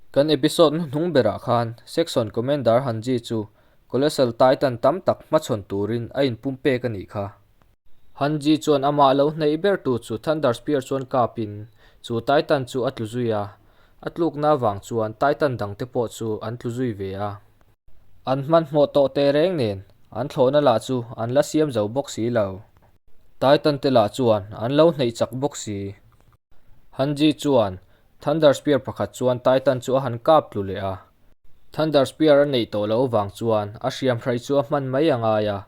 Kan episode hnu hnung berah khan Saxon Commander han G chu Colossal Titan tam tak hma chhawn turin a in pum pek a nih kha. Han G chuan amah lo hneih ber tu chu Thunder Spear chuan kap in chu Titan chu a tlu zui a, a tlukna vang chuan Titan dangte pawh chu an tlu zui ve a. An hmanhmawh tawh teh reng nen an thlawhna lah chu an la siam zo bawk si lo. Titan te lah chuan an lo hneih chak bawk si. Hanji chuan Thunder Spear pakhat chuan Titan chu a han kap tlu leh a. Thunder Spear a neih tawh loh vang chuan a hriam hraih chu a hman mai a ngai a,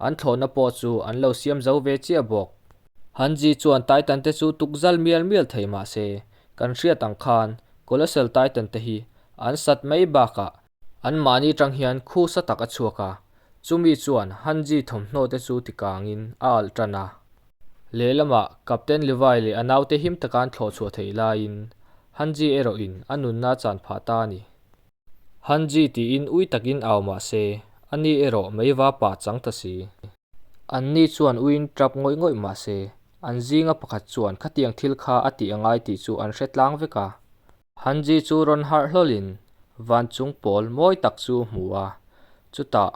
an thlawhna pawh chu an lo siam zo ve chiah bawk. Hanji chuan Titan te chu tukzal mial mial thei mah se, kan hriat ang khan Colossal Titan te hi an sat mai bakah An mahni tang hian khusa tak a chhuak a, chumi chuan Han Ji thawmhnaw te chu tikangin a alh tan a. Lehlamah Captain Levi leh a naute him taka an thlawh chhuah theih laiin Han Ji erawhin a nunna chan phah ta a ni. Han Ji tiin ui takin au mah se, ani erawh mei va pah chang ta si. Anni chuan uiin tap ngawih ngawih mah se, an zinga pakhat chuan khatiang thil kha a tih a ngai tih chu an hre tlang vek a. Han ji chu rawn harh hlawlhin vanchung pawl mawi tak chu a hmu a, chutah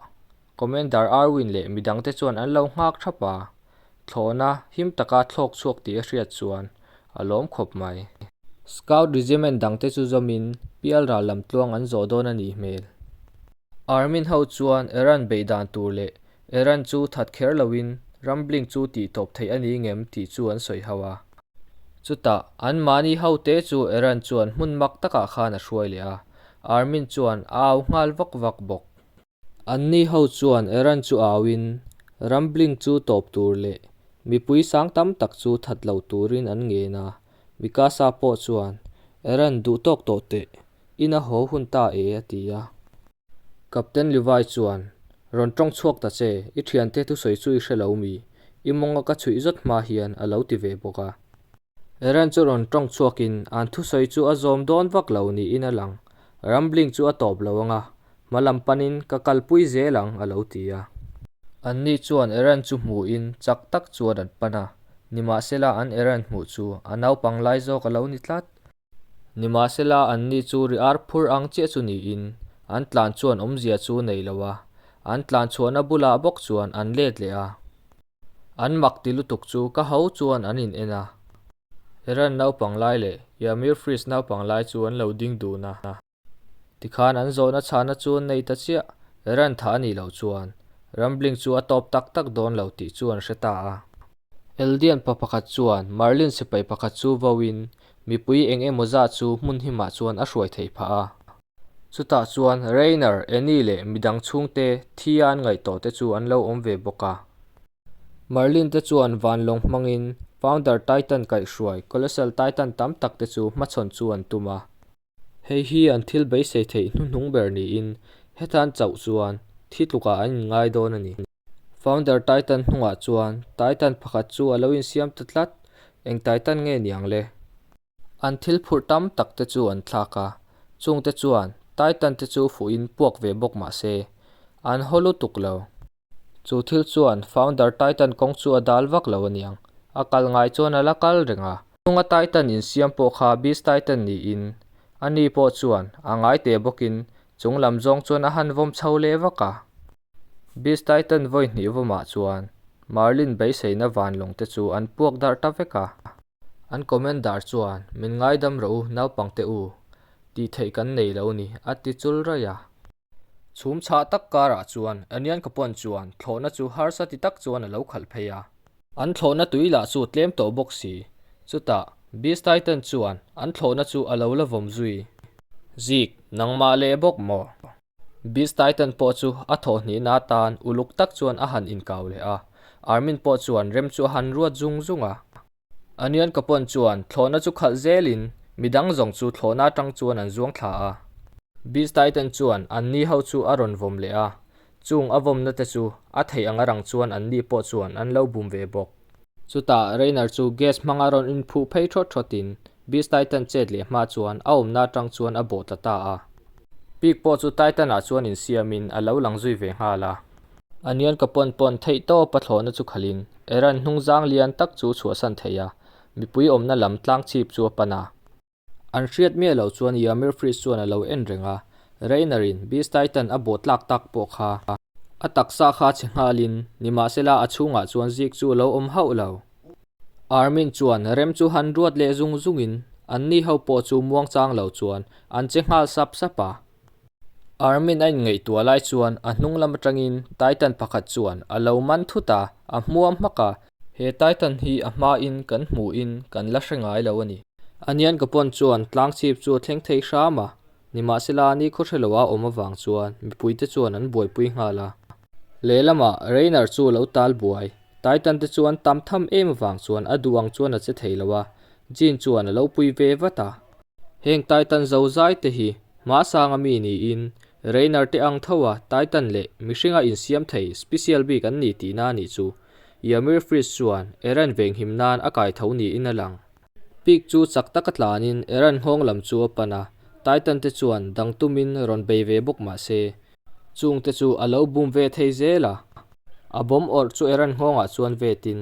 Commander Arwin leh mi dangte chuan an lo nghak thap a, thlawhna him taka thlawk chhuak tih a hriat chuan a lawm khawp mai. Scout Regiment dangte chu zawmin Pialral lam tluang an zawh dawn a nih hmel. Army ho chuan Iran beih dan tur leh Iran chu that kher loin rambling chu tih tawp theih a ni ngem tih chu an sawi hau a. Chutah, an mahni ho te chu Iran chuan hmun mak takah khan a hruai leh a, Army chuan a au nghal vak vak bawk. Anni ho chuan Iran chu auin rambling chu tawp tur leh mipui sang tam tak chu that lo turin an ngen a, Mikasa pawh chuan Iran duh tawk tawh teh In a haw hun ta e a ti a. Captain Levi chuan, Rawn tawng chhuak ta che, i thiante thusawi chu i hre lo mi? I mawnga ka chhuih zawt hma hian a lo ti ve bawk a. Eren chu rawn tawng chhuak in, An thusawi chu a zawm dawn vak lo niin a lang. Rambling chu a tawp lo ang a, hma lam pan in ka kal pui zel ang a lo ti a. An ni chuan Eren chu hmuh in chak tak chuan an pan a, nimahsela an Eren hmuh chu a naupang lai zawk a lo ni tlat. Nimahsela an ni chu ri ar phur ang chiah chu niin, an tlan chuan awmzia chu nei lo a, an tlan chhuahna bulah bawk chuan an let leh a. An mak ti lutuk chu ka ho chuan an in en a, Iran naupang lai leh Yamir Freeze naupang lai chu an lo ding dun a. Tikhan an zawhna chhahna chu nei ta chiah, ran thah a nih loh chuan Rambling chu a tawp tak tak dawn lo tih chu an hre ta a. Eldianpa pakhat chuan Marlin sipai pakhat chu voin mipui eng emaw zat chu hmun hi mah chuan a hruai thei phah a. Chutah chuan Rainer, Annie leh midang chhungte thian ngaihtuah te chu an lo awm ve bawk a. Marlin te chuan vanlawng hmangin Founder Titan kaihhruai, Colossal Titan tam tak te chu hmachhawn chu an tum a. Hei hi an thil beisei theih hnu hnung ber niin hetan chauh chuan thi tlukah an inngai dawn a ni. Founder Titan hnungah chuan Titan pakhat chu a lo insiam ta tlat, eng Titan nge niang le? An thil phurh tam tak te chu an thlak a, chungte chuan Titan te chu fuhin puak ve bawk mah se, an haw lutuk lo. Chu thil chuan founder Titan kawng chu a dal vak lo a niang. A kal ngai chuan a la kal reng a. Chhunga Titan insiam pawh kha Beast Titan niin a ni pawh chuan a ngai teh bawkin chung lam zawng chuan a han vawm chho leh vak a. Beast Titan vawi hnih vawmah chuan Marlin beiseina vanlawng te chu an puak darh ta vek a. An comment dar chuan min ngaidam ro u, naupangte u, tih theih kan nei lo ni, a ti chul raih a. Chhum chhah tak karah chuan Anianka pawn chuan thlawhna chu harsa ti tak chuan a lo khalh phei a. An thlawhna tui lah chu tlem tawh bawk si. Chutah, Beastie ten chuan an thlawhna chu a lo la vawm zui. Zig, nangmah leh bawk maw? Beastie ten pawh chu a thawhni na tan uluk tak chuan a han inkau leh a. Armin pawh chuan rem chu a han ruat zung zung a. Anian ka pawn chuan thlawhna chu khalh zelin mi dang zawng chu thlawhna atang chuan an zuang thla a. Beast Tai ten chuan an ni ho chu a rawn vawm leh a, chung a vawmna te chu a theih ang a rang chuan an ni pawh chuan an lo bum ve bawk. Chutah Reiner chu gas hmang a rawn inphuh phei thawt thawtin Beast Tai ten chet leh hma chuan a awmna atang chuan a bawh ta ta a. Pik pawh chu Titan-ah chuan insiamin a lo lang zui ve nghal a, Anian ka pawn pawn theih tawp a thlawhna chu khalhin Eran hnung zang lian tak chu chhuahsan theih a, mipui awmna lam tlang chhip chu a pan a. An hriat miah lo chuan Yamir fridge chuan a lo en reng a, Reiner-in Beast Titan a bawh tlak tak pawh kha a taksa kha chhe nghalin, nimahsela a chhungah chuan zik chu a lo awm hauh lo. Army-n chuan rem chu han ruat leh zung zungin, anni ho pawh chu muangchang lo chuan an che nghal sap sap a. Armin a inngaihtuah lai chuan a hnunglam atangin Titan pakhat chuan a lo man thut a, a hmuam hmak a. He Titan hi a hmain kan hmuhin kan la hre ngai lo a ni. Anian ka pawn chuan tlangchhip chu a thleng thei hram a, nimahsela ni khawhre lo a awm avang chuan mipuite chuan an buaipui nghal a. Lehlamah Reiner chu a lo tal buai. Titan te chuan tam tham em avang chuan a duh ang chuan a che thei lo a, Jin chuan a lo pui ve vat a. Heng Titan zozai te hi mahsanga mi niin Reiner te ang tho a, Titan leh mihring a insiam thei special bik an ni tihna a nih chu. Ymir Fritz chuan Eren venghim nan a kai tho niin a lang. Pic chu chak taka tlanin Iran nghawng lam chu a pan a, Titan te chuan dang tumin rawn bei ve bawk mah se, chung te chu a lo bum ve thei zel a. A bomb awrh chu Iran nghawngah chuan vetin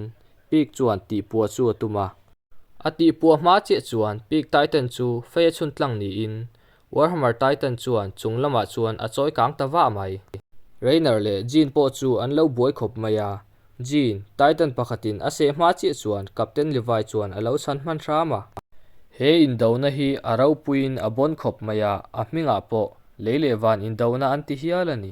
Pic chuan tihpua chu a tum a. A tihpua hma chiah chuan Pic Titan chu fei a chhuntlang niin Warhammer Titan chuan chung lamah chuan a chawi kang ta vah mai. Reiner leh Jean pawh chu an lo buai khawp mai a, Jean, Titan pakhatin a seh hma chiah chuan Captain Levi chuan a lo chhan hman hram a. He indona hi a ropuiin a bawn khawp mai a, a hmingah pawh lei leh van indona an ti hial a ni.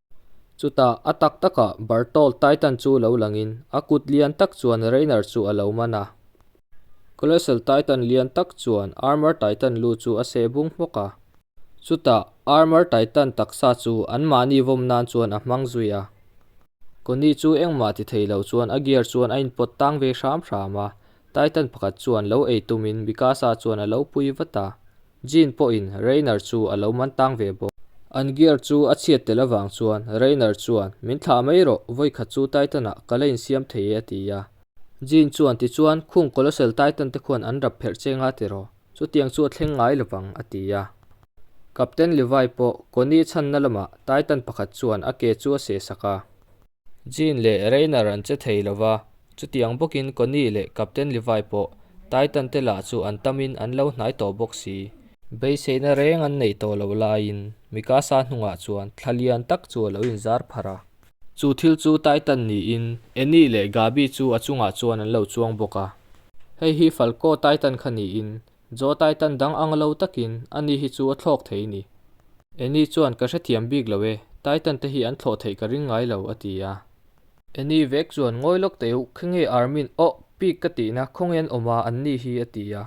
Chutah a tak takah Bartolt Titan chu lo langin a kut lian tak chuan Reiner chu a lo man a. Colossal Titan lian tak chuan Armor Titan lu chu a seh bung hmawk a. Chutah Armor Titan taksa chu an mahni vawm nan chuan a hmang zui a. Connie chu engmah ti thei loh chuan a gear chuan a inpawt tang ve hram hram a. Titan pakhat chuan lo ei tumin Mikasa chuan a lo pui vat a. Jean pawhin Rainer chu a lo man tang ve bawk. An gear chu a chhiat telh avang chuan Rainer chuan, Min thlah mai rawh, vawi khat chu Titan-ah ka la insiam thei e a ti a. Jean chuan, Tichuan, khung Colossal Titan-te khuan an rap pherh che nga tiraw? Chutiang chu a thleng ngai lovang, a ti a. Captain Levi pawh Connie chhanna lamah Titan pakhat chuan a ke chu a sehsak a. Gene leh Rainer an che thei lo va, chutiang bawkin Connie leh Captain Levi pawh Titan-te lah chu an tamin an lo hnai tawh bawk si. Beiseina reng an nei tawh loh laiin Mikasa hnungah chuan thla lian tak chu a lo inzar phar a. Chu thil chu Titan niin Annie leh Gabi chu a chungah chuan an lo chuang bawk a, Hei hi Falco Titan kha niin Zawtai tan dang ang lo takin a ni hi chu a thlawk thei i ni. Annie chuan, Ka hrethiam bik lo e, Titan te hi an thlawh theih ka ring ngai lo, a ti a. Annie vek chuan, Ngawi lawk teuh, khengeih Armin, Awh, Pig ka tihna, khawnge an awm a, an ni hi, a ti a.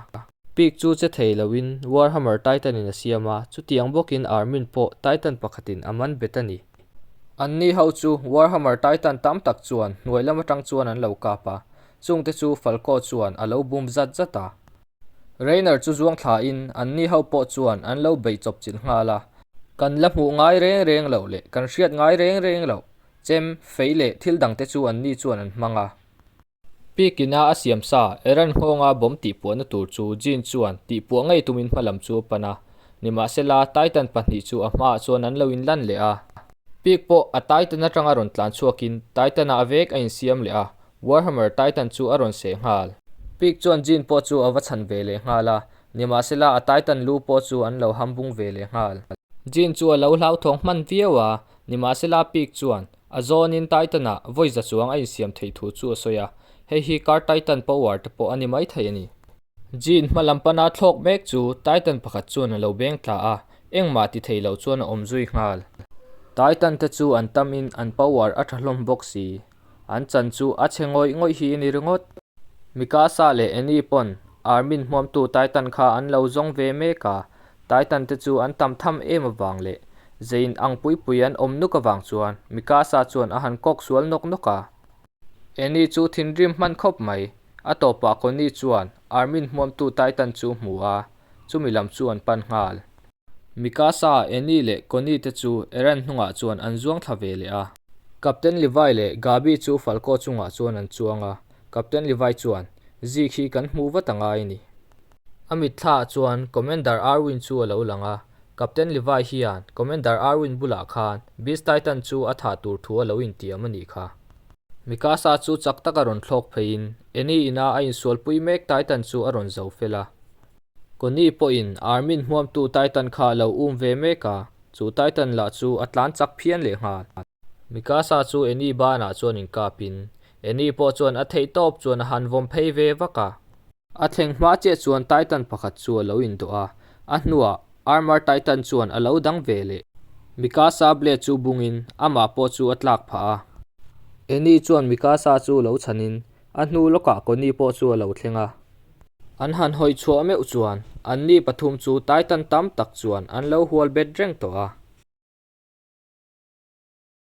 Pig chu che thei loin, Warhammer Titan-in a siam a, chutiang bawkin Armin pawh Titan pakhatin a man bet a ni. An ni ho chu Warhammer Titan tam tak chuan hnuai lam atang chuan an lo kap a, chung te chu Falco chuan a lo bum zat zat a. Reiner chu zuang thla in an ni ho pawh chuan an lo beih chawp chilh nghal a. Kan la hmuh ngai reng reng lo leh kan hriat ngai reng reng lo chem, fei leh thil dang te chu an ni chuan an hmang a. Pekin a a siam sa Iran nghawngah bomb tihpuahna tur chu Jin chuan tihpuah ngei tumin hma lam chu a pan a, nimahsela Titan pahnih chu a hmaah chuan an lo in lan leh a. Pek pawh a Titan atanga rawn tlan chhuakin Titan-a a vek a in siam leh a, Warhammer Titan chu a rawn seh nghal. Pek chuan Jin pawh chu a va chhan ve leh nghal a, nimahsela a Titan lu pawh chu an lo ham bung ve leh nghal. Jin chu a lo hlauthawng hman viau a, nimahsela Pek chuan A zawnin Titan-a voice za chuang a insiam theih thu chu a sawi a, hei hi Car Titan power te pawh a ni mai thei a ni. Jean hma lam pana thlawk mek chu Titan pakhat chuan a lo beng tla a, engmah ti thei lo chuan a awm zui nghal. Titan te chu an tam in an power a tha hlawm bawk si, an chan chu a chhe ngawih ngawih hi a ni ringawt. Mikasa leh Annie pawn Army-n hmuamtu Titan kha an lo zawng ve mek a, Taitan te chu an tam tham em avang leh zei in ang pui pui an awm nuk avang chuan Mikasa chuan a han kawk sual nawk nawk a. Annie chu thinrim hman khawp mai. A tawpah Connie chuan Army-in hmuamtu Taitan chu hmu a, chumi lam chu an pan nghal. Mikasa, Annie leh Connie te chu Eren hnungah chuan an zuang thla ve leh a. Captain Levi leh Gabi chu Falco chungah chuan an chuang a. Captain Levi chuan, Zik hi kan hmu vat anga i ni? A mitthlah chuan Commander Arwin chu a lo lang a, Captain Levi hian Commander Arwin bulah khan Beast Titan chu a thah tur thu a lo intiam a nih kha. Mikasa chu chak taka rawn thlawk pheiin Annie ina a insualpui mek Titan chu a rawn zo fel a. Connie pawhin Armin hmuamtu Titan kha a lo um ve mek a, chu Titan lah chu a tlan chak phian leh nghal. Mikasa chu Annie banah chuan inkapin Annie pawh chuan a theih tawp chuan a han vawm phei ve vak a. A thleng hma chiah chuan Titan pakhat chu a lo indawh a, a hnuah Armour Titan chuan a lo dang ve leh. Mikasa blade chu bungin amah pawh chu a tlak phah a. Annie chuan Mikasa chu lo chhanin a hnu lawkah Connie pawh chu a lo thleng a. An han hawi chhuah meuh chuan anni pathum chu Titan tam tak chuan an lo hual bet reng tawh a.